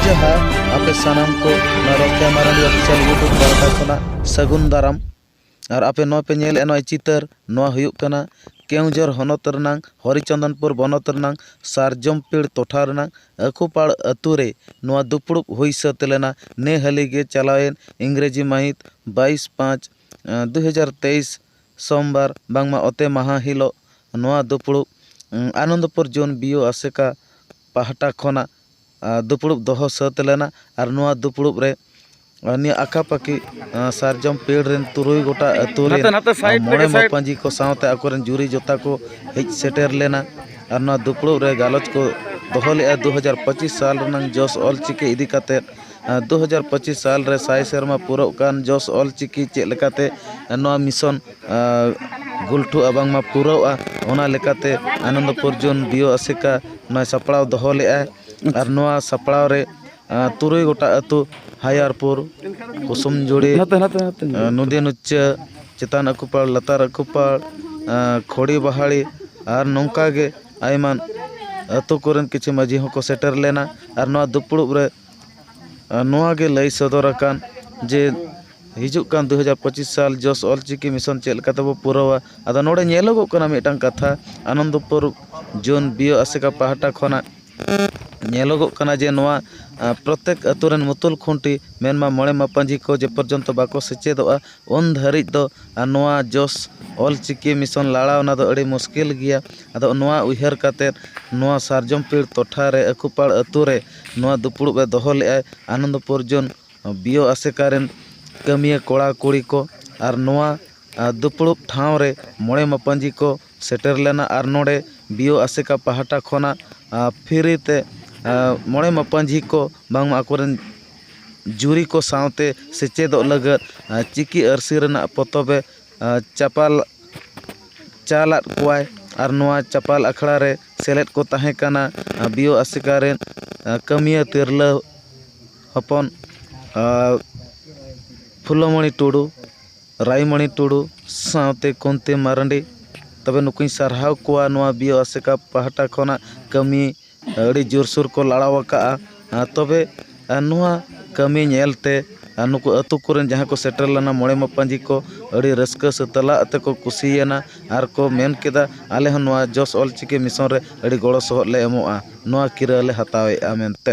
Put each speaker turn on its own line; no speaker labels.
ᱡᱟᱦᱟᱸ ᱟᱯᱮ ᱥᱟᱱᱟᱢ ᱠᱚ ᱱᱚᱣᱟ ᱨᱚᱠ ᱠᱮᱢᱮᱨᱟ ᱚᱯᱷᱤᱥᱤᱭᱟᱞ ᱤᱭᱩᱴᱩᱵᱽ ᱯᱟᱦᱴᱟ ᱠᱷᱚᱱᱟᱜ ᱥᱟᱹᱜᱩᱱ ᱫᱟᱨᱟᱢ ᱟᱨ ᱟᱯᱮ ᱱᱚᱣᱟ ᱯᱮ ᱧᱮᱞᱮᱫᱼᱟ ᱱᱚᱜᱼᱚᱭ ᱪᱤᱛᱟᱹᱨ ᱱᱚᱣᱟ ᱦᱩᱭᱩᱜ ᱠᱟᱱᱟ ᱠᱮᱣᱡᱷᱚᱨ ᱦᱚᱱᱚᱛ ᱨᱮᱱᱟᱝ ᱦᱚᱨᱤᱪᱚᱱᱫᱚᱱᱯᱩᱨ ᱵᱚᱱᱚᱛ ᱨᱮᱱᱟᱝ ᱥᱟᱨᱡᱚᱢ ᱯᱤᱲ ᱴᱚᱴᱷᱟ ᱨᱮᱱᱟᱝ ᱟᱹᱠᱩᱯᱟᱲ ᱟᱹᱛᱩ ᱨᱮ ᱱᱚᱣᱟ ᱫᱩᱯᱲᱩᱵ ᱦᱩᱭ ᱥᱟᱹᱛ ᱞᱮᱱᱟ ᱱᱮ ᱦᱟᱹᱞᱤ ᱜᱮ ᱪᱟᱞᱟᱣᱮᱱ ᱤᱝᱨᱮᱡᱤ ᱢᱟᱹᱦᱤᱛ ᱵᱟᱭᱤᱥ ᱯᱟᱸᱪ ᱫᱩ ᱦᱟᱡᱟᱨ ᱛᱮᱭᱤᱥ ᱥᱚᱢᱵᱟᱨ ᱵᱟᱝᱢᱟ ᱚᱛᱮ ᱢᱟᱦᱟᱸ ᱦᱤᱞᱚᱜ ᱱᱚᱣᱟ ᱫᱩᱯᱩᱲᱩᱵ ᱟᱱᱚᱱᱫᱚᱯᱩᱨ ᱡᱚᱱ ᱵᱤᱭᱚ ᱟᱥᱮᱠᱟ ᱯᱟᱦᱴᱟ ᱠᱷᱚᱱᱟᱜ ᱫᱩᱯᱩᱲᱩᱵ ᱫᱚᱦᱚ ᱥᱟᱹᱛ ᱞᱮᱱᱟ ᱟᱨ ᱱᱚᱣᱟ ᱫᱩᱯᱩᱲᱩᱵ ᱨᱮ ᱱᱤᱭᱟᱹ ᱟᱠᱟᱯᱟᱠᱤ ᱥᱟᱨᱡᱚᱢ ᱯᱮᱲ ᱨᱤᱱ ᱛᱩᱨᱩᱭ ᱜᱚᱴᱟ ᱟᱹᱛᱩ ᱨᱤᱱ ᱢᱚᱬᱮ ᱢᱟᱯᱟᱹᱡᱤ ᱠᱚ ᱥᱟᱶᱛᱮ ᱟᱠᱚ ᱨᱤᱱ ᱡᱩᱨᱤ ᱡᱚᱛᱟ ᱠᱚ ᱦᱮᱡ ᱥᱮᱴᱮᱨ ᱞᱮᱱᱟ ᱟᱨ ᱱᱚᱣᱟ ᱫᱩᱯᱩᱲᱩᱵ ᱨᱮ ᱜᱟᱞᱚᱪ ᱠᱚ ᱫᱚᱦᱚ ᱞᱮᱫᱼᱟ ᱫᱩ ᱦᱟᱡᱟᱨ ᱯᱚᱸᱪᱤᱥ ᱥᱟᱞ ᱨᱮᱱᱟᱜ ᱡᱚᱥ ᱚᱞᱪᱤᱠᱤ ᱤᱫᱤ ᱠᱟᱛᱮᱫ ᱫᱩ ᱦᱟᱡᱟᱨ ᱯᱚᱸᱪᱤᱥ ᱥᱟᱞ ᱨᱮ ᱥᱟᱭ ᱥᱮᱨᱢᱟ ᱯᱩᱨᱟᱹᱜ ᱠᱟᱱ ᱡᱚᱥ ᱚᱞ ᱪᱤᱠᱤ ᱪᱮᱫ ᱞᱮᱠᱟᱛᱮ ᱱᱚᱣᱟ ᱢᱤᱥᱚᱱ ᱜᱩᱞᱴᱷᱩᱜᱼᱟ ᱵᱟᱝᱢᱟ ᱯᱩᱨᱟᱹᱜᱼᱟ ᱚᱱᱟ ᱞᱮᱠᱟᱛᱮ ᱟᱱᱚᱱᱫᱚᱯᱩᱨ ᱡᱳᱱ ᱰᱤᱭᱳ ᱟᱥᱮᱠᱟ ᱱᱚᱣᱟ ᱥᱟᱯᱲᱟᱣ ᱫᱚᱦᱚ ᱞᱮᱫᱟᱭ ᱟᱨ ᱱᱚᱣᱟ ᱥᱟᱯᱲᱟᱣ ᱨᱮ ᱛᱩᱨᱩᱭ ᱜᱚᱴᱟᱝ ᱟᱹᱛᱩ ᱦᱟᱭᱟᱨᱯᱩᱨ ᱠᱩᱥᱩᱢ ᱡᱩᱲᱤ ᱱᱚᱫᱤ ᱱᱩᱪᱟᱹ ᱪᱮᱛᱟᱱ ᱟᱹᱠᱩᱯᱟᱲ ᱞᱟᱛᱟᱨ ᱟᱹᱠᱩᱯᱟᱲ ᱠᱷᱚᱲᱤ ᱵᱟᱦᱟᱲᱤ ᱟᱨ ᱱᱚᱝᱠᱟᱜᱮ ᱟᱭᱢᱟ ᱟᱹᱛᱩ ᱠᱚᱨᱮᱱ ᱠᱤᱪᱷᱩ ᱢᱟᱹᱡᱷᱤ ᱦᱚᱸᱠᱚ ᱥᱮᱴᱮᱨ ᱞᱮᱱᱟ ᱟᱨ ᱱᱚᱣᱟ ᱫᱩᱯᱲᱩᱵ ᱨᱮ ᱱᱚᱣᱟ ᱜᱮ ᱞᱟᱹᱭ ᱥᱚᱫᱚᱨ ᱟᱠᱟᱱ ᱡᱮ ᱦᱤᱡᱩᱜ ᱠᱟᱱ ᱫᱩ ᱦᱟᱡᱟᱨ ᱯᱚᱸᱪᱤᱥ ᱥᱟᱞ ᱡᱚᱥ ᱚᱞ ᱪᱤᱠᱤ ᱢᱤᱥᱚᱱ ᱪᱮᱫ ᱞᱮᱠᱟ ᱛᱮᱵᱚᱱ ᱯᱩᱨᱟᱹᱣᱟ ᱟᱫᱚ ᱱᱚᱰᱮ ᱧᱮᱞᱚᱜᱚᱜ ᱠᱟᱱᱟ ᱢᱤᱫᱴᱟᱱ ᱠᱟᱛᱷᱟ ᱟᱱᱚᱱᱫᱚᱯᱩᱨ ᱡᱳᱱ ᱵᱤ ᱳ ᱟᱥᱮᱠᱟ ᱯᱟᱦᱴᱟ ᱠᱷᱚᱱᱟᱜ ᱧᱮᱞᱚᱜᱚᱜ ᱠᱟᱱᱟ ᱡᱮ ᱱᱚᱣᱟ ᱯᱨᱚᱛᱮᱠ ᱟᱹᱛᱩ ᱨᱮᱱ ᱢᱩᱛᱩᱞ ᱠᱷᱩᱱᱴᱤ ᱢᱮᱱᱢᱟ ᱢᱚᱬᱮ ᱢᱟᱯᱟᱡᱤ ᱠᱚ ᱡᱮ ᱯᱚᱨᱡᱚᱱᱛᱚ ᱵᱟᱠᱚ ᱥᱮᱪᱮᱫᱚᱜᱼᱟ ᱩᱱ ᱫᱷᱟᱹᱨᱤᱡ ᱫᱚ ᱱᱚᱣᱟ ᱡᱚᱥ ᱚᱞ ᱪᱤᱠᱤ ᱢᱤᱥᱚᱱ ᱞᱟᱲᱟᱣ ᱚᱱᱟ ᱫᱚ ᱟᱹᱰᱤ ᱢᱩᱥᱠᱤᱞ ᱜᱮᱭᱟ ᱟᱫᱚ ᱱᱚᱣᱟ ᱩᱭᱦᱟᱹᱨ ᱠᱟᱛᱮᱫ ᱱᱚᱣᱟ ᱥᱟᱨᱡᱚᱢ ᱯᱤᱲ ᱴᱚᱴᱷᱟ ᱨᱮ ᱟᱹᱠᱩᱯᱟᱲ ᱟᱹᱛᱩ ᱨᱮ ᱱᱚᱣᱟ ᱫᱩᱯᱩᱲᱩᱵ ᱮ ᱫᱚᱦᱚ ᱞᱮᱫᱼᱟ ᱟᱱᱚᱱᱫᱚ ᱯᱚᱨᱡᱚᱱ ᱵᱤ ᱳ ᱟᱥᱮᱠᱟ ᱨᱮᱱ ᱠᱟᱹᱢᱤᱭᱟᱹ ᱠᱚᱲᱟ ᱠᱩᱲᱤ ᱠᱚ ᱟᱨ ᱱᱚᱣᱟ ᱫᱩᱯᱩᱲᱩᱵ ᱴᱷᱟᱶ ᱨᱮ ᱢᱚᱬᱮ ᱢᱟᱯᱟᱡᱤ ᱠᱚ ᱥᱮᱴᱮᱨ ᱞᱮᱱᱟ ᱟᱨ ᱱᱚᱰᱮ ᱵᱤ ᱳ ᱟᱥᱮᱠᱟ ᱯᱟᱦᱴᱟ ᱠᱷᱚᱱᱟᱜ ᱯᱷᱨᱤ ᱛᱮ ᱢᱚᱬᱮ ᱢᱟᱯᱟᱡᱤ ᱠᱚ ᱵᱟᱝ ᱢᱟ ᱟᱠᱚ ᱨᱮᱱ ᱡᱩᱨᱤ ᱠᱚ ᱥᱟᱶᱛᱮ ᱥᱮᱪᱮᱫᱚᱜ ᱞᱟᱹᱜᱤᱫ ᱪᱤᱠᱤ ᱟᱹᱨᱥᱤ ᱨᱮᱱᱟᱜ ᱯᱚᱛᱚᱵ ᱮ ᱪᱟᱯᱟᱞ ᱪᱟᱞᱟᱫ ᱠᱚᱣᱟᱭ ᱟᱨ ᱱᱚᱣᱟ ᱪᱟᱯᱟᱞ ᱟᱠᱷᱲᱟ ᱨᱮ ᱥᱮᱞᱮᱫ ᱠᱚ ᱛᱟᱦᱮᱸ ᱠᱟᱱᱟ ᱵᱤᱭᱳ ᱟᱥᱮᱠᱟ ᱨᱮᱱ ᱠᱟᱹᱢᱤᱭᱟᱹ ᱛᱤᱨᱞᱟᱹ ᱦᱚᱯᱚᱱ ᱯᱷᱩᱞᱳᱢᱚᱱᱤ ᱴᱩᱰᱩ ᱨᱟᱭᱢᱚᱱᱤ ᱴᱩᱰᱩ ᱥᱟᱶᱛᱮ ᱠᱩᱱᱛᱤ ᱢᱟᱨᱟᱱᱰᱤ ᱛᱚᱵᱮ ᱱᱩᱠᱩᱧ ᱥᱟᱨᱦᱟᱣ ᱠᱚᱣᱟ ᱱᱚᱣᱟ ᱵᱤᱭᱳ ᱟᱥᱮᱠᱟ ᱯᱟᱦᱴᱟ ᱠᱷᱚᱱᱟᱜ ᱠᱟᱹᱢᱤ ᱟᱹᱰᱤ ᱡᱳᱨᱥᱳᱨ ᱠᱚ ᱞᱟᱲᱟᱣ ᱠᱟᱜᱼᱟ ᱛᱚᱵᱮ ᱱᱚᱣᱟ ᱠᱟᱹᱢᱤ ᱧᱮᱞ ᱛᱮ ᱱᱩᱠᱩ ᱟᱹᱛᱩ ᱠᱚᱨᱮᱱ ᱡᱟᱦᱟᱸᱭ ᱠᱚ ᱥᱮᱴᱮᱨ ᱞᱮᱱᱟ ᱢᱚᱬᱮ ᱢᱟᱯᱟᱡᱤ ᱠᱚ ᱟᱹᱰᱤ ᱨᱟᱹᱥᱠᱟᱹ ᱥᱮ ᱛᱮᱞᱟ ᱟᱛᱮ ᱠᱚ ᱠᱩᱥᱤᱭᱮᱱᱟ ᱟᱨ ᱠᱚ ᱢᱮᱱ ᱠᱮᱫᱟ ᱟᱞᱮ ᱦᱚᱸ ᱱᱚᱣᱟ ᱡᱚᱥ ᱚᱞ ᱪᱤᱠᱤ ᱢᱤᱥᱚᱱ ᱨᱮ ᱟᱹᱰᱤ ᱜᱚᱲᱚ ᱥᱚᱦᱚᱫ ᱞᱮ ᱮᱢᱚᱜᱼᱟ ᱱᱚᱣᱟ ᱠᱤᱨᱟᱹ ᱞᱮ ᱦᱟᱛᱟᱣᱮᱜᱼᱟ ᱢᱮᱱᱛᱮ